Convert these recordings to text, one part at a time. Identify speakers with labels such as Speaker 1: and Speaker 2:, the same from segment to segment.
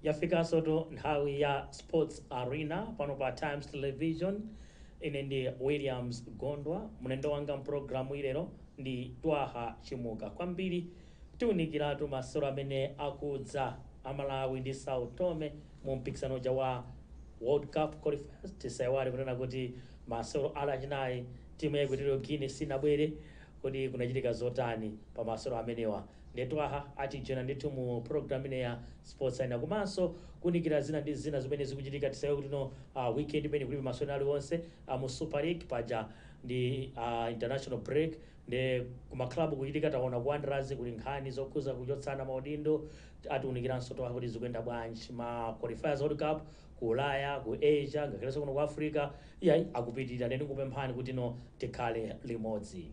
Speaker 1: yafikanso to nthawi ya sports arena pano pa times television ine ndi williams gondwa mlendo wanga mpulogalamuyi lero ndi twaha chimuka kwambiri Tiunikiratu masewero amene akudza a Malawi ndi Sao Tome mu mpikisano uja wa World Cup Qualifiers. Tisaiwale kunena kuti masewero a lachinayi timu ya Equatorial Guinea sinabwere. Kodi kunachitika zotani pa masewero amenewa? Nde Twaha atijoina ndithu mu program ino ya Sports Arena komanso kuunikira zina ndi zina zimene zikuchitika. Tisaiwale kuti no weekend imeneyi kulibe masewero ena aliwonse a mu Super League paja ndi international break. Nde kuma club kuchitika taona ku Wanderers kuli nkhani zokhuza kuchotsana maudindo atiunikiranso Twaha kuti zikuyenda bwanji ma qualifiers world cup ku ulaya, ku Asia ngakhalenso kuno ku Africa iyayi akupitilira nde ndingokupemphani kuti no tikhale limodzi.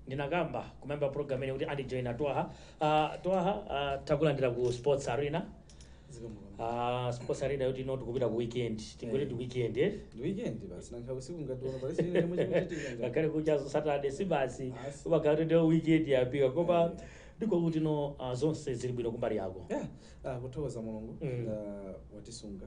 Speaker 1: ndinakamba kumayambiriro a program ino kuti andijoina twaha uh, twaha uh, takulandira ku sports arena uh, sports arena yoti ino tikupita ku weekend tingoti ndi weekend eh? ndi weekend basi
Speaker 2: nanga usiku ngati uno pali china chomwe chikuchitika ngakhale
Speaker 1: kukuchaku ndi saturday si basi Basi. umakhala kuti ndiyo weekend yafika koma ndiko kuti no uh, zonse zili bwino kumbali yako yeah ah, kuthokoza
Speaker 2: mulungu Mm. ah, watisunga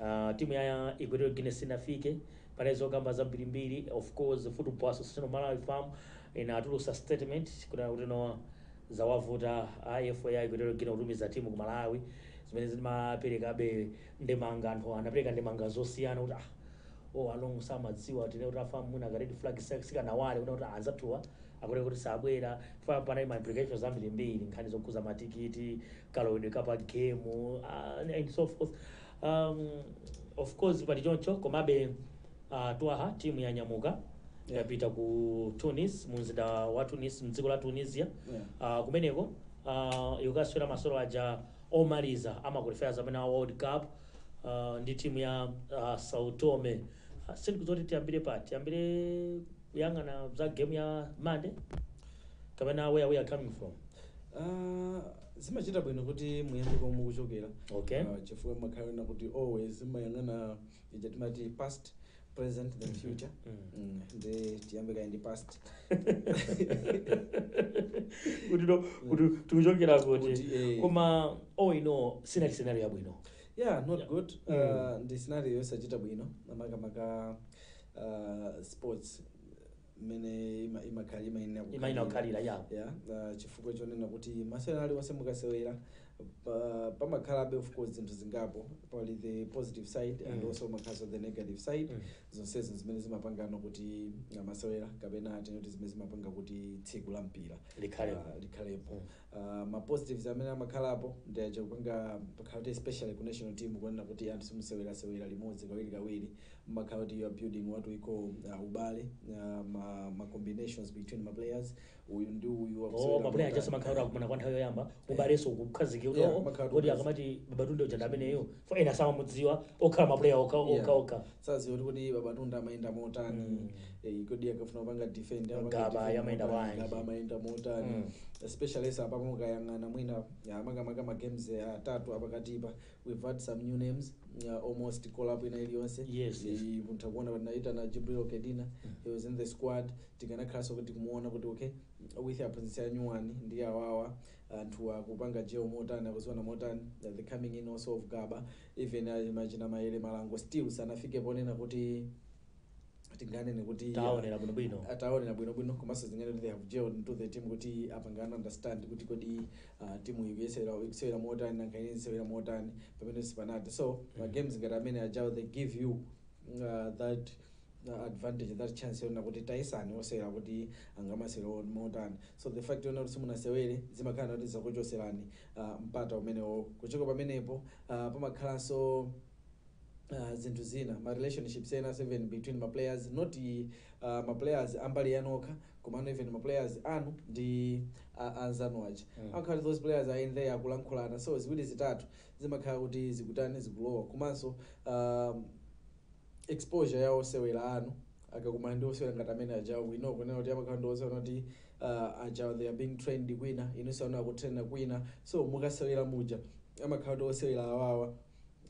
Speaker 1: Aaa timu ya equatorial guinea sinafike panali zokamba zambiri mbiri of course football association of malawi fam inatulusa statement kunena kuti no zawavuta a FA ya equatorial guinea kutumiza timu ku malawi zimene zimaperekabe ndemanga anthu anapereka ndemanga zosiyana kuti ah all along samadziwa tinene kuti a fam mwina ka red flag sika- sikanawale kunena kuti ah anzathuwa akutheka kuti sabwera chifukwa panali ma implications ambiri mbiri nkhani zokhuza matikiti kalowedwe ka pa game uh, and so forth um, of course pali choncho komabe uh, twaha timu yanyamuka Yeah. yapita ku tunis mumzinda wa tunis mdziko la tunisia uh, kumeneko uh, ikukasewera masewero aja omaliza a ma qualifiers amene a world cup uh, ndi timu ya uh, sao tome uh, sindikudziwa kuti tiyambire pati tiyambire kuyang'ana za game ya Monday kapena where we are coming from Ah,
Speaker 2: zimachita bwino kuti muyambe komwe mukuchokera Okay. Ah, chifukwa makhala na kuti always zimayang'ana ija timati past present then future Mm. Mm, nde tiyambe kaye ndi
Speaker 1: past kuti no kuti tikuchokera kuti Kuti, eh. koma all in all sinali scenario yabwino yeah not Yeah. good
Speaker 2: Mm. Ah, ndi scenario yosachita bwino makamaka uh, sports mmene ima- imakhala
Speaker 1: imayenera Imayenera kukhalira, yeah. yeah, uh, chifukwa
Speaker 2: chonena kuti masewera aliwonse mukasewera pa- pamakhalabe of course zinthu zingapo pali the positive side and Mm. also pamakhalaso the negative side Mm. zonsezo zimene zimapangano kuti uh, masewera kapena tinene kuti zimene zimapanga kuti tsiku la mpira Likhalepo. uh, likhalepo Aaa ma positives amene amakhalapo ndi aja kupanga pakhala kuti especially ku national team kuonena kuti anthu simusewerasewera limodzi kawirikawiri mumakhala kuti you are building what we call aaa ubale aaa ma ma combinations between ma players uyu ndi uyu Oh, akusewera ma player aja motani
Speaker 1: samakhala kuti aaa akumana kwa nthawi yoyamba ubalenso ukukhazikika kuti Yeah, oo umakhala kuti kodi ukhazikika. akamati Babatunde uja ndi ameneyo for ena samamudziwa okhala ma player okha Yeah. okha okha saziwa kuti kodi
Speaker 2: Babatunde amayenda motani mm. eh, kodi akafuna kupanga defend Gaba
Speaker 1: amayenda bwanji Gaba
Speaker 2: amayenda motani mm. especially so apa mukayang'ana mwina makamaka ma games eh, atatu apakatipa we've had some new names uh, almost call up ina iliyonse yes, yes. mutha kuona kuti naita na Jibril Kedina mm. he was in the squad tikanakhalanso kuti kumuona kuti okay with aphunzitsi anyuwani ndi awawa anthu akupanga jail motani akudziwana motani uh, the coming in also of Gaba Even achina Mayele Malango still sanafike ponena kuti tinganene kuti Taonera bwinobwino. ah, taonera bwinobwino komanso tingati kuti they have gelled into the team kuti apangana understand kuti kodi ah, timu ikuyesera ikusewera motani nanga ine ndisewera motani pamenepo sipanati so ma games ngati amene ajawo they give you ah, that ah, advantage that chance yona kuti tayesani osewera kuti angamasewera motani so the fact yona kuti simunasewere zimakhala kuti zakuchoserani mpata umenewo. Kuchoka pamenepo pamakhalanso zinthu zina, ma relationships enanso even between ma players, not ma players ambali yanu okha komano even ma players anu ndi anzanu aja. Amakhala kuti those players are in there akulankhulana so ziwiri zitatu zimakhala kuti zikutani, zikulowa komanso. exposure ya osewera anu akakumana ndi osewera ngati amene aja we know kunena kuti amakhala ndi osewera kuti uh, ajawo they are being trained kwina inunso anu akutraina kwina so mukasewera muja amakhala kuti osewera awawa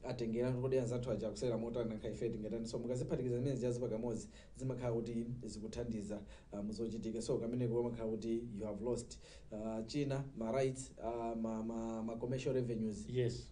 Speaker 2: atengera kuti anzathu aja akusewera motani nanga ife tingatani so mukaziphatikiza zimene zijazi pamodzi zimakhala kuti zikuthandiza uh, muzochitika so kameneko amakhala kuti you have lost uh, zina ma rights uh, ma, ma, ma commercial revenues yes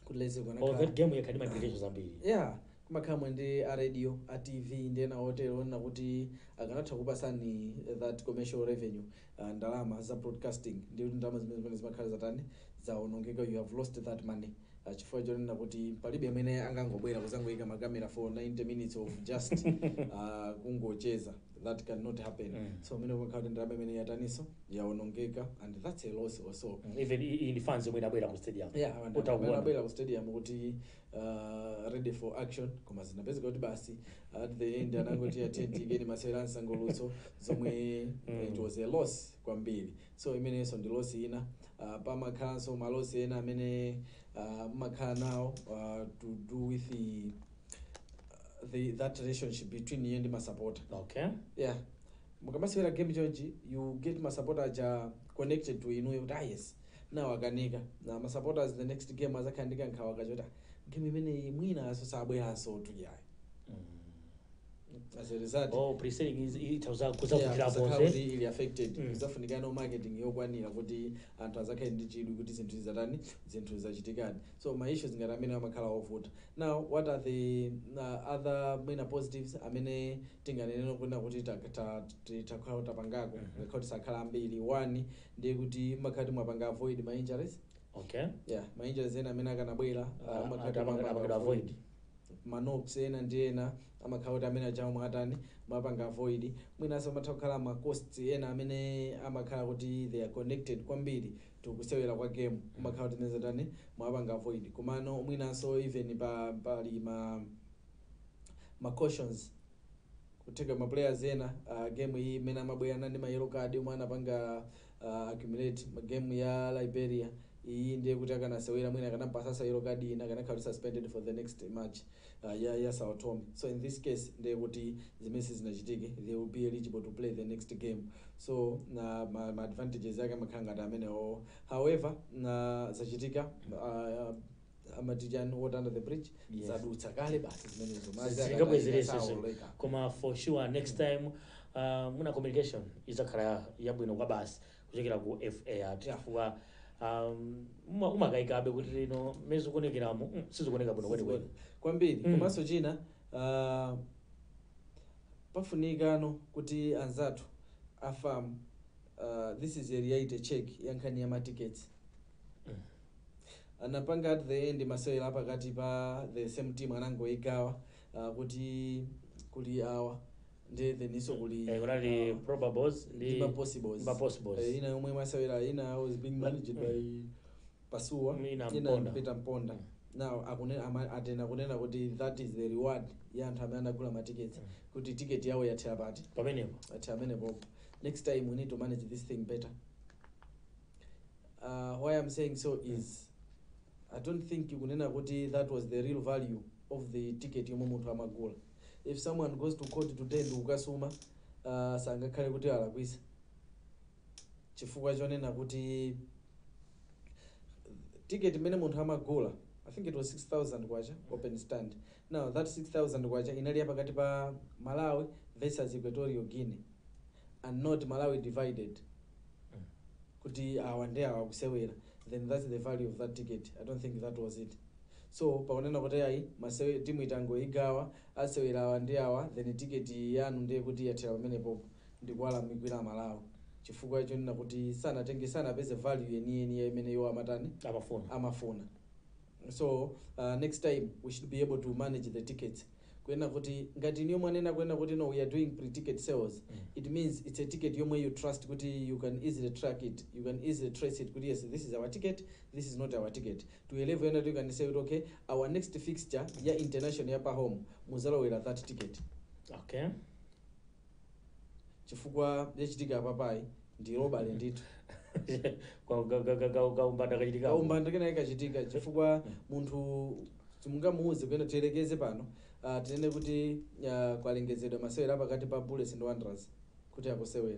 Speaker 1: kuti let's say
Speaker 2: Oh, that game
Speaker 1: yakhala ndi ma attractions ambiri yeah kumakhala
Speaker 2: mwina ndi a radio a tv ndi ena otero onena kuti akanatha kukupatsani that commercial revenue uh, ndalama za broadcasting ndiye kuti ndalama zimene zimenezi zimakhala zatani zaonongeka you have lost that money uh, chifukwa chonena kuti palibe amene angangobwera kuzangoyika makamera for 90 minutes of just uh, kungocheza that can not happen Mm. so imene imakhala kuti ndalama imene yataniso yaonongeka and that's a loss also Mm, even i- iyi ndi
Speaker 1: fans yomwe inabwera ku stadium yeah and utha kuona amene abwera
Speaker 2: ku stadium kuti uh, ready for action koma zinapezeka kuti basi at the end anangoti attend itiyeni masewera ansangalutso zomwe Mm. it was a loss kwambiri so imenenso ndi loss ina uh, pamakhalanso ma loss ena amene uh, mmakhala nawo uh, to do with the the that relationship between inuyo ndi masapota okay yeah mukamasewera game chonchi you get masapota aja connected to inuyo kuti ah yes now akanika na masupporters the next game azakhala ndi kankhawa kachoti "Ah, game imeneyi mwina awanso sabweranso tu iyayi as a result oh pre-selling izi zitha
Speaker 1: yeah, kuzavutira kuzakhala kuti zonse zili
Speaker 2: affected Mm. izafunikano marketing yokwanira kuti anthu azakhale ndi chidwi kuti zinthu zizatani zinthu zachitikadi so ma issues ngati amenewa amakhala ovuta. Now what are the other main positives amene tinganene kunena kuti titha kukhala kuti tapangako ngakhale kuti sakhala ambiri, one ndiye kuti mmakhala kuti mwapanga avoid ma injuries, Okay.
Speaker 1: yeah ma injuries
Speaker 2: ena amene akanabwera Ah, ah, mmakhala kuti apanga-
Speaker 1: mwapanga apangidwa avoid. avoid. ma
Speaker 2: knocks ena ndi ena amakhala kuti amene ajawo mwatani mwapanga avoid mwinanso amatha kukhala ma costs ena amene amakhala kuti they are connected kwambiri to kusewera kwa game kumakhala kuti imene ija mwatani mwapanga avoid komano mwinanso even pa pali ma ma cautions kutheka ma players ena uh, game iyi mmene amabwera anali ndi ma yellow card omwe anapanga uh, accumulate ma game ya Liberia iyi ndiye kuti akanasewera mwina akanampatsanso yellow card ina akanakhala kuti suspended for the next match uh, ya, ya Sao Tome so in this case ndiye kuti zimenezo sizinachitike they will be eligible to play the next game so nde ma, ma advantages ake amakhala ngati amenewo however now zachitika uh, amati chani water under the bridge Yes. zadutsa
Speaker 1: kale
Speaker 2: basi zimenezo Madzi akatayika sizingabwererenso sawoleka
Speaker 1: zinthu. koma for sure next time uh, mwina communication izakhala yabwino kwabasi kuchokera ku FA chifukwa um, umakayikabe kuti you know mmene zikuonekeramo mm, sizikuoneka bwino kwenikweni kwambiri Mm. komanso
Speaker 2: china ah, pafunikano kuti anzathu a FAM ah, this is a reality check ya nkhani ya matickets Mm. anapanga at the end masewera apakati pa the same team anangoigawa ah, kuti kuli awa ndi theninso kuli Eh, kunali
Speaker 1: uh, probables ndi ndi mapossibles mapossibles. Eh, ina yomwe imasewera
Speaker 2: ina was being managed by pasuwa Ina Mponda. peter mponda Mm. now akune- ama- atena kunena kuti that is the reward ya anthu amene anagula matiketi kuti tiketi yawo yathera pati pamenepo ati
Speaker 1: pamenepo
Speaker 2: next time we need to manage this thing better uh, why i'm saying so is i don't think kunena kuti that was the real value of the ticket yomwe munthu amagula if someone goes to court today ndikukasuma uh, sangakhale kuti alakwisa chifukwa chonena kuti ticket imene munthu amagula i think it was 6000 kwacha open stand now that 6000 kwacha inali ya pakati pa malawi versus equatorial guinea and not malawi divided kuti awa ndi awa akusewera then that's the value of that ticket i don't think that was it so pakunena kuti ayi masewe timu tangoigawa asewera awa ndi awa then ticket yanu ndiye kuti yathera pamenepopo ndikuwalakwira amalawi chifukwa chonena kuti sanatenge sanapeze value yeniyeni ya imene iwo amatani Amafuna. amafuna so uh, next time we should be able to manage the tickets kunena kuti ngati inuyo mwanena kunena kuti no we are doing pre-ticket sales it means it's a ticket yomwe you trust kuti you can easily track it you can easily trace it kuti yes this is our ticket this is not our ticket To a level yonena kuti you can say kuti okay our next fixture ya international ya pa home muzalowera that ticket okay chifukwa yachitika apapayi ndi robbery ndithu Kwa- ka- ka- ka-
Speaker 1: ka- kaumbanda kachitika kaumbanda kena
Speaker 2: kachitika chifukwa munthu simungamuuze kunena tiyerekeze pano uh, tinene kuti uh, kwalengezedwa masewera pakati pa bullets ndi wanderers kuti akusewera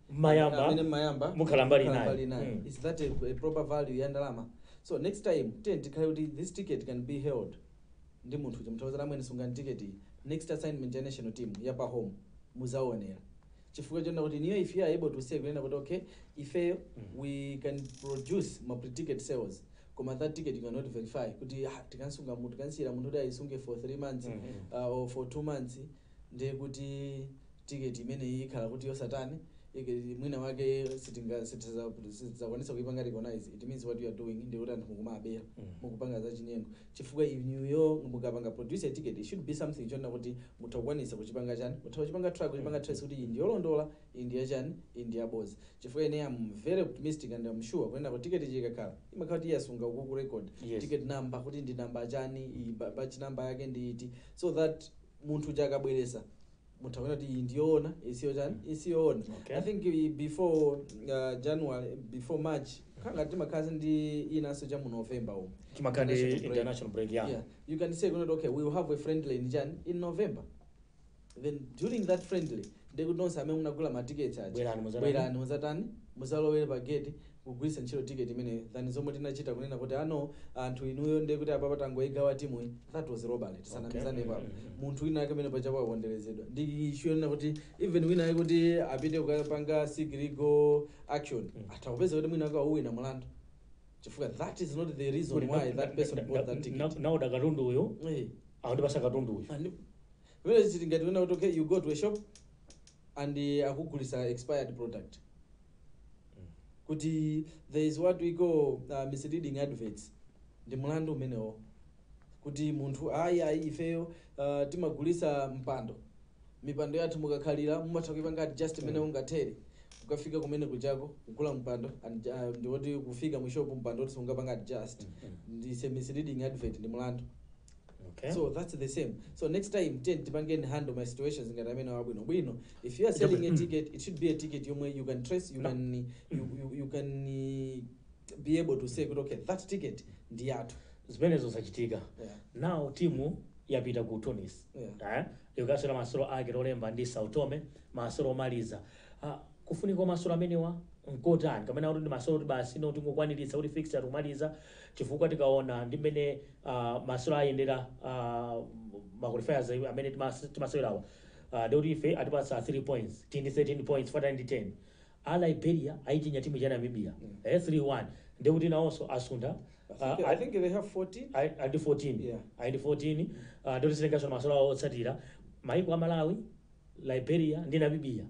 Speaker 1: mmayamba amene mmayamba mukhala mbali mukhala inayo mbali inayo. Mm. is that a, a
Speaker 2: proper value ya ndalama so next time ten tikhale kuti this ticket can be held ndi munthu uja mutha kuwauza amwene sungani ticket iyi next assignment ya national team ya pa home muzaonera chifukwa chonena kuti inuyo if you are able to say kunena kuti okay ifeyo we can produce ma pre-ticket sales koma that ticket you cannot verify kuti ah, tikansunga munthu tikansiyira munthu kuti ayisunge for three months Mhm. uh, or for two months ndiye kuti ticket imeneyi ikhala kuti yosatani, mwina wake sitinga sitidzakwanitsa kuipanga recognize, it means what you are doing ndiye kuti anthu mukuwabera, mukupanga za chinyengo, chifukwa inuyo mukapanga produce a ticket it should be something chonena kuti mutha kukwanitsa kuchipanga chani, mutha kuchipanga track, kuchipanga trace kuti iyi ndi yolondola, iyi ndi ya chani, iyi ndi ya bodza, chifukwa ine am very optimistic and am sure kunena kuti ticket ija ikakhala, imakhala kuti yasunga ukuku record, Yes. ticket number kuti ndi number chani, iyi ba- batch number yake ndi iti, so that munthu uja akabweresa mutha kuona kuti iyi ndiyoona iyi siyotani iyi siyoona Okay. i think i- before uh, january before march kaya timakhalanso ndi inanso cha mu november umu Timakhala ndi International
Speaker 1: break. international break, yeah. yeah you can
Speaker 2: say kunena kuti okay we will have a friendly chani in november then during that friendly ndekuti nonse amene munagula matiketi aja Bwerani, muzatani? bwerani muzatani muzalowere pa gate kugwiritsa ntchito ticket imeneyo than zomwe tinachita kunena kuti ah no anthu inuyo ndiye kuti apapa tangoigawa timuyi that was robbery tisanamizanepo apa munthu wina wake amene paja waponderezedwa ndi issue yonena kuti even wina wake kuti apite kukapanga seek legal action atha kupeza kuti mwina wake wawina mulandu chifukwa that is not the reason why that person bought that ticket ndafuna katundu
Speaker 1: uyo Eh. akundipasa katundu uyo And vile
Speaker 2: zitingati wena kuti okay you go to a shop and uh, akugulisa expired product kuti there is what we call uh, misleading adverts ndi mlandu umenewo kuti munthu ayi ayi ifeyo uh, timagulisa mpando mipando yathu mukakhalira mumatha kuipanga adjust mmene ungathere ukafika kumene kujako kugula mpando and, uh, ndiwoti kufika mushopu mpando woti sungapange adjust this is a misleading advert ndi mlandu Okay.
Speaker 1: so that's the
Speaker 2: same so next time then tipangeni handle ma situations ngati amenewa bwinobwino if you are selling a ticket it should be a ticket yomwe you can trace you can you, you, you can eh, be able to say kuti okay that ticket ndi yathu zimenezo
Speaker 1: zachitika Yeah. now timu yapita ku tunis Yeah. Eh? ikasewera masolo ake lolemba ndi Sao Tome masolo omaliza Ah, Kufunika kwa masolo amenewa nkotani? Kapena kuti ndi masolo oti basi no tingokwaniritsa kuti fixture kumaliza chifukwa tikaona ndi mmene uh, masolo ayendera uh, ma qualifiers amene timas- timasewerawa uh, ndi kuti ife atipatsa 3 points tili ndi 13 points from 10 a liberia ayichinya timu ya namibia eh, 3-1 ndi kuti nawonso asuntha I think, uh, I think
Speaker 2: they have 14. I- I ndi 14 Yeah.
Speaker 1: I ndi 14 uh, ndoti zitengaso masolo awo otsatira maiko a malawi Liberia ndi Namibia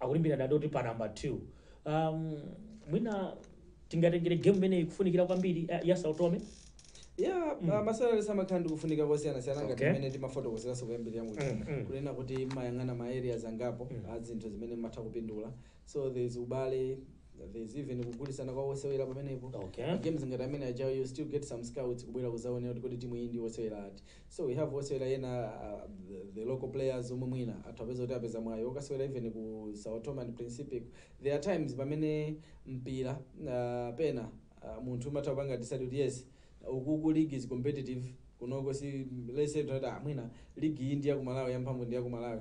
Speaker 1: akulimbirana ndoti pa number 2 um, mwina tingatengere game imeneyi kufunikira kwambiri eh, ya Sao Tome ya mm. masolo amakhala ndi kufunika kosiyanasiyana ngati Okay. mmene timafotokozeranso kuyambirira muja Mm, mm. kunena kuti umayang'ana ma areas angapo Mm. a zinthu zimene umatha kupindula so there's ubale there's even kugulitsana kwa osewera pamenepo Okay. games ngati amenewajawo you still get some scouts kubwera kuzaonera kuti kodi timu iyi ndi osewera ati So we have osewera ena uh, the local players omwe mwina atha kupeza kuti apeza mwayi okasewera even ku Sao Tome and Principe there are times pamene mpira uh, pena uh, munthu umatha kupanga decide kuti yes ukuku league is competitive kunoko so let's say that mwina league iyi ndi ya ku Malawi yamphamvu ndi ya ku Malawi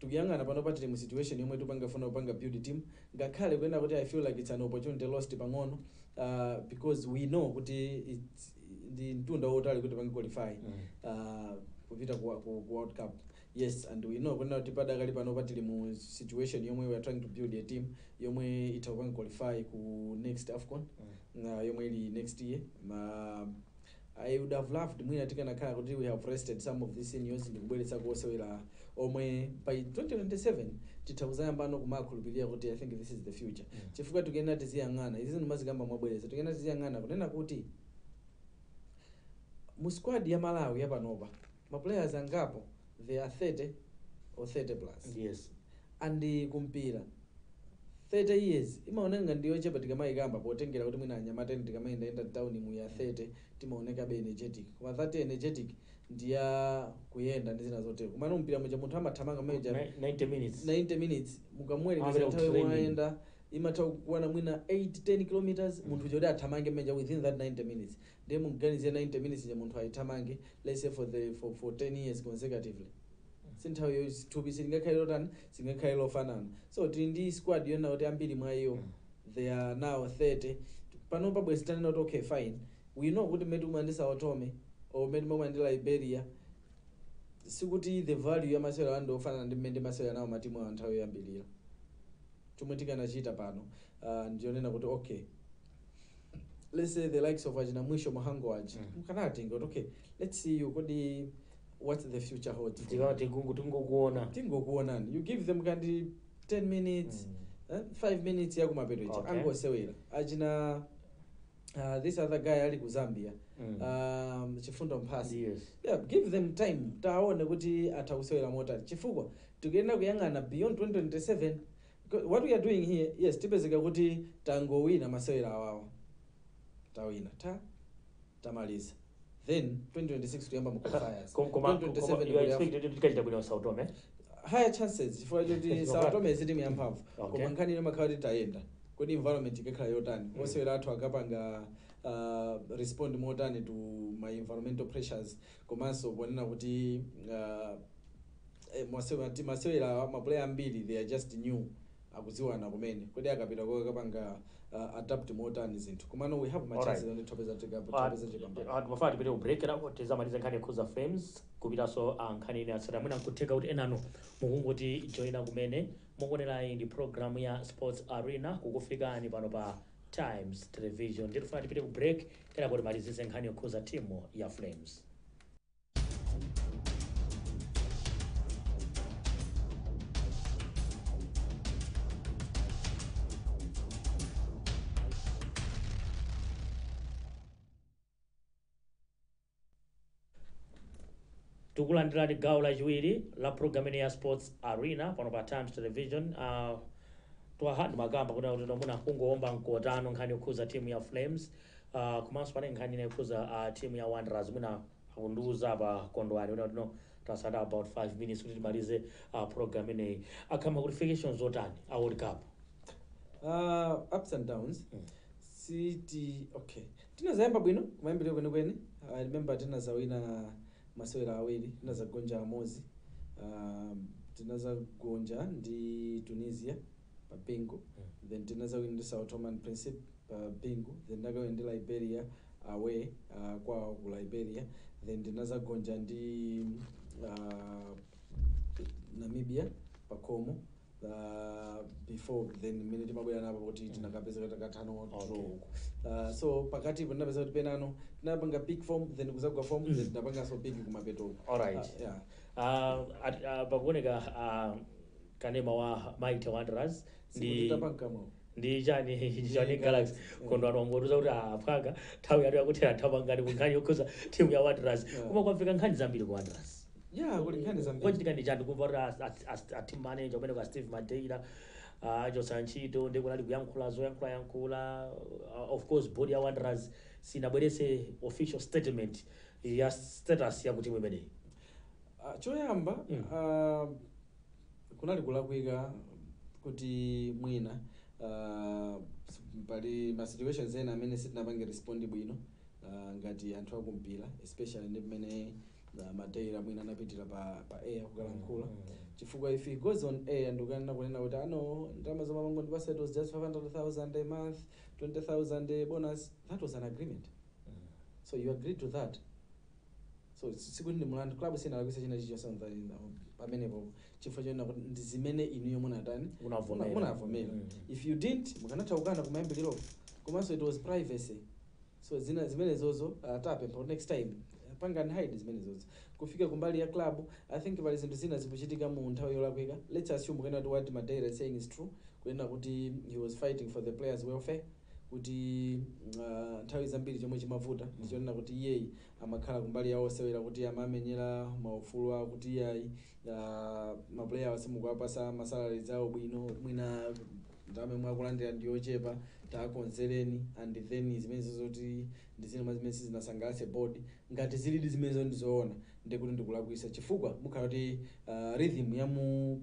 Speaker 2: tikuyang'ana panopa tili mu situation yomwe tikupanga kufuna kupanga build team ngakhale kunena kuti I feel like it's an opportunity lost pang'ono uh, because we know kuti it's, ndi mtunda wotali kuti tipange qualify uh, kupita ku, ku, ku world cup yes and we know kunena kuti padakali panopa tili mu situation yomwe we are trying to build a team yomwe itha kupanga qualify ku next afcon uh, yomwe ili next year ma I would have loved mwina tikanakhala kuti we have rested some of these seniors ndikubweretsako osewera omwe by 2027 titha kuzayambano kumawakhulupilira kuti I think this is the future chifukwa tikuyenera tiziyang'ana izizi ndimazikamba mobwereza tikuyenera tiziyang'ana kunena kuti mu squad ya Malawi yapanopa ma players angapo they are 30 or 30 plus Yes.
Speaker 1: and
Speaker 2: ku mpira 30 years imaoneka ngati ndi yochepa tikamaikamba potengera kuti mwina anyamata enafe tikamayendayenda mtaunimu ya 30 timaonekabe energetic koma that energetic ndi ya kuyenda ndi zina zotero komano mpira muja munthu amathamanga muja Ni- 90 minutes. 90 minutes mukamuwerengetsa Amapita nthawi yomwe kutraining. ayenda imatha kukwana mwina 8 10 kilometers munthu uja kuti athamange muja within that 90 minutes Ndiye muganizire 90 minutes ija munthu ayithamange let's say for the for for 10 years consecutively si nthawi yo thupi silingakhale lotani, silingakhale lofanana so tili ndi squad yonena kuti ambiri mwa iyo they are now 30 panopa bwezi tikunena kuti okay fine we know kuti mmene tikumana ndi Sao Tome or mmene timakumana ndi Liberia sikuti the value ya masewero ano ndi yofanana ndi mmene tinasewera nawo matimu awo nthawi yoyambirira chomwe tikanachita pano uh, ndi chonena kuti okay let's say the likes of achina mwisho mahango achi Mm. mukanawatenga kuti okay let's see you kodi what the future holds for you. tikati kungu tingokuona tingokuonani you give them kaya ndi 10 minutes Mm. eh, 5 minutes yakumapeto achi Okay. angosewera achina uh, this other guy ali ku zambia Mm. um, chifundo mphasi yes yeah, give them time tiwaone kuti atha kusewera motani chifukwa tikuyenera kuyang'ana beyond 2027 What we are doing here, yes tipezeka kuti tangowina masewera awawa tawina tha tamaliza then 2026 tikuyamba mu qualifiers Kom- koma- 2027 koma you kuli are Af-
Speaker 1: expected to tikachita bwino Sao Tome? higher chances
Speaker 2: chifukwa choti Sao Tome si timu yamphamvu Okay. koma nkhani imangokhala kuti tayenda kodi environment ikakhala yotani Mm. osewera athu akapanga uh, respond motani to ma environmental pressures komanso kunena kuti uh, eh, masewera ti masewera awa maplayer ambiri they are just new akudziwana kumene kodi akapita uko akapanga uh, adapt motani zinthu komano we have ma Alright. chances and opeza opeza chipambano ndimafuna tipite ku break
Speaker 1: kuti tizamalize nkhani yokhuza flames kupitanso ku nkhani ina Ase mwina nkutheka kuti enano mukungotijoina kumene mukuonerayi ndi programu ya sports arena kukufikani pano pa times television ndiye tifuna tipite ku break kenako timalizitse nkhani yokhuza timu ya flames tikulandirani gawo lachiwiri la program ino ya sports arena pano pa times television uh, Twaha Chimuka mwina kuti timuna kungowomba mkota nkhani yokhuza timu ya flames Uh, komanso pane nkhani ina ikhuza uh, ah, timu ya Wanderers mwina akundiuza apa kondwani kunena kuti tasala about 5 minutes kuti timalize uh, program ineyi akhala ma qualifications zotani a World Cup uh,
Speaker 2: ups and downs mm. City okay tinazayamba bwino kumayambiriro kwenikweni i remember tinazawina masewera awiri tinazagonja amodzi um, tinazagonja ndi tunisia pa bingu then tinazawina ndi sao tome and principe pa bingu then tinakawina ndi liberia away uh, kwawo ku liberia then tinazagonja ndi uh, namibia pakhomo uh, before then mmene timabwera napo kuti tinakapezeka takathana wa draw Okay. uko uh, so pakatipo ndinapeza kuti penapake tinapanga pick form then kuzagwa form then tinapanganso pick kumapeto uko Alright. uh, yeah.
Speaker 1: Ah, at- ah, pakuoneka ah, kanema wa mighty wanderers ndi Simutita pankamwa. ndi chani ndi Ndi chani galaxy Galaxy. kondwani wangondiuza kuti aphwanga nthawi yathu yakuthera thamangani ku nkhani yokhuza timu ya wanderers Yeah. koma kwafika nkhani zambiri ku wanderers Yeah, kuli nkhani
Speaker 2: zambiri. kwachitika ndi chani kumva kuti as- as-
Speaker 1: as- a team manager amene ndi a steve madeira achosa ntchito ndi kunali kuyankhula zoyankhula yankhula uh, of course board ya wanderers sinabwerese official statement ya status ya kutimu imeneyi Ah,
Speaker 2: choyamba Mm. ah, kunali kulakwika kuti mwina uh, pali ma situations ena amene sitinapange respond bwino uh, ngati anthu akumpira especially ndi pamene uh, madeira mwina anapitira pa, pa air kukalankhula chifukwa if he goes on air ndikukanena kunena kuti no ndalama zomwe amangondipasa it was just 500000 a month 20000 a bonus that was an agreement so you agreed to that So si- sikuti ndi mlandu club sinalakwisa china chilichonse on the- in the- pamenepo chifukwa chonena kuti ndi zimene inuyo munatani Unavomera. Muna- munavomera Mm. if you didn't mukanatha kukana kumayambiriro komanso it was privacy so zinazimenezozo tapempha kuti next time pangani hide zimenezozo kufika kumbali ya club i think pali zinthu zina zikuchitika mu nthawi yolakwika let's assume kunena kuti what madeira is saying is true kunena kuti he was fighting for the players welfare kuti nthawi zambiri chomwe chimavuta ndi chonena kuti iyeyi amakhala kumbali ya osewera kuti amamenyera maufulu awo kuti iyayi ah, mapuleya awa simukuwapasa masalaries awo bwino mwina ndalama yomwe akulandira ndi yochepa takonzereni and then zimenezo ngati ndi zina mwa zimene sizinasangalatse board ngati zilidi zimenezo ndizoona ndikuti ndikulakwisa chifukwa mukhala kuti ah, rhythm ya mu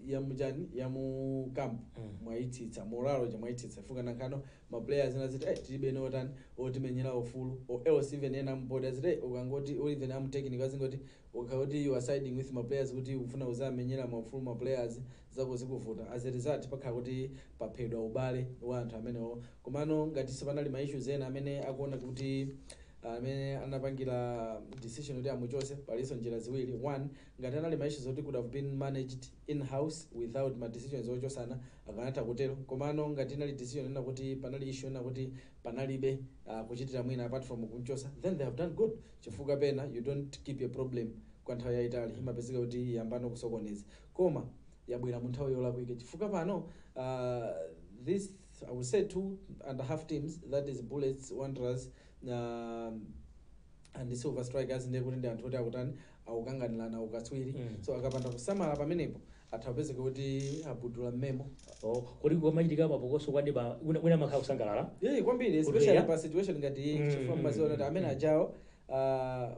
Speaker 2: ya mchani ya mu camp Mm. mwaitsitsa morale chani mwaitsitsa chifukwa nangano ma players ena aziti eh tilibeno otani otimenyera ufulu or else even ena m'board aziti eh ukangoti or even a mu technical azingoti ukangoti you are siding with ma players kuti ufuna uzamenyera ma ufulu ma players zako zikuvuta as a result pakhala kuti paphedwa ubale wa anthu amenewo komano ngati sipanali ma issues ena amene akuona kuti amene anapangira decision kuti amuchose palinso njira ziwiri one Ngati anali ma issues oti could have been managed in house without ma decisions ochosana akanatha kutero komano ngati inali decision yonena kuti panali issue yonena kuti panalibe kuchitira mwina apart from kumchosa then they have done good chifukwa pena you don't keep a problem kwa nthawi yaitali imapezeka kuti yambano kusokoneza koma yabwera mu nthawi yolakwika chifukwa pano this I would say two and half teams that is Bullets, Wanderers, and the Silver Strikers ndiye kuti ndi anthu oti akutani akukanganirana ukatswiri Mm. so akapanda kusamala pamenepo atha kupezeka kuti abudula momwemo Oh, koma kukamachitika
Speaker 1: mapokoso kwa neighbour wina wina amakhala kusangalala yeah, kwambiri Kuti
Speaker 2: especially ya? pa situation ngati iyi Mm, chifukwa mm, mmaziwa kuti mm, amene mm. ajawo ah,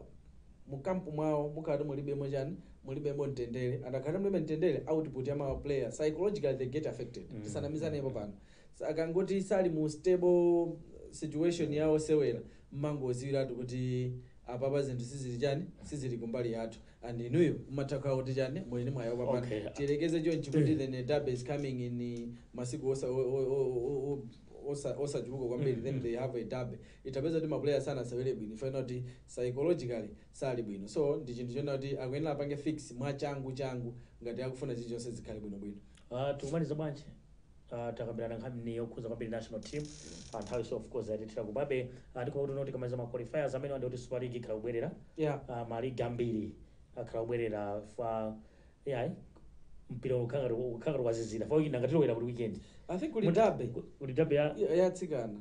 Speaker 2: mukampu mwawo mukakhala kuti mulibemo chani mulibemo mtendere and mukakhala kuti mulibe mtendere output ya ma player psychologically they get affected Mm. tisanamizanepo pano Akangati sali mu stable situation ya osewera mmangoziwiratu kuti apapa zinthu sizili chani sizili kumbali yathu and inuyo mumatha kukhala kuti chani muli ndi mwayi opambana Okay. tiyerekeze chonchi kuti the derby is coming in uh, masiku osa- o- o- o- o- osa- osachuluka kwambiri then they have a derby ndiye tapeza kuti mapuleya sanasewere bwino chifukwa kuti psychologically sali bwino so ndi chinthu chonena kuti akuyenera apange fix mwachangu changu ngati akufuna chilichonse zikhale bwinobwino Ah, tikumaliza
Speaker 1: bwanji Ah, takambirana nkhani yokhuza kwambiri national team Ah, nthawi so of course yatithira kubabe Ah, ndikuona kuti tikamaliza ma qualifiers amenewa ndi kuti super league ikhala ikubwerera yeah Ah, maligi ambiri akhala akubwerera chifukwa yayi mpira ukhala ngati wazizira chifukwa weekend ngati tikulowera ku weekend i think kuli
Speaker 2: derby kuli derby ya atsikana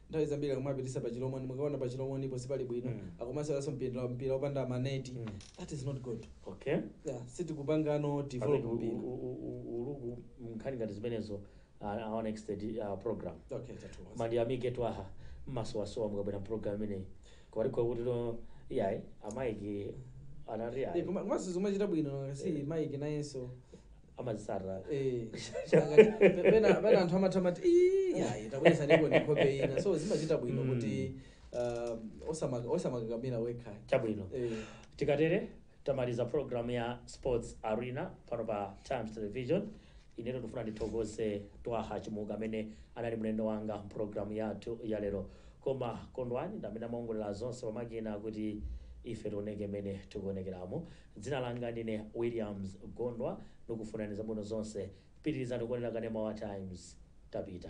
Speaker 2: nthawi zambiri akumapitisa pa Chilomoni mukaona pa Chilomonipo sipali bwino Mm. akumaseweranso mpira mpira opanda maneti Mm. that is not good okay yeah,
Speaker 1: sitikupangano
Speaker 2: develop Pamene u- mpira u- u- u- uluku
Speaker 1: nkhani ngati zimenezo uh, our next uh, program okay
Speaker 2: ndiyamike
Speaker 1: Twaha mmasowasowa mukabwera ku program imeneyi kwalikovuta no yayi amaiki anati Eh, yayi koma- komanso zomachita
Speaker 2: bwino zi Mike nayenso
Speaker 1: amazitsata
Speaker 2: eh. Pe- pena pena anthu amatha mati "Ii, yayi tabweza ndipo ndi nkhope ina so zimachita bwino Mm. kuti um, osama- osamakakamira wekha chabwino Eh,
Speaker 1: tikatere tamaliza program ya Sports Arena pano pa Times Television inetu ndifuna ndithokoze Twaha Chimuka amene anali mlendo wanga mprogram yathu ya lero koma Kondwani ndamene amaongolera zonse pamakina kuti ife tioneke mmene tikuonekeramo Dzina langa ndine Williams Gondwa ndikufunani zabwino zonse pitirizani kuonera kanema wa Times tapita.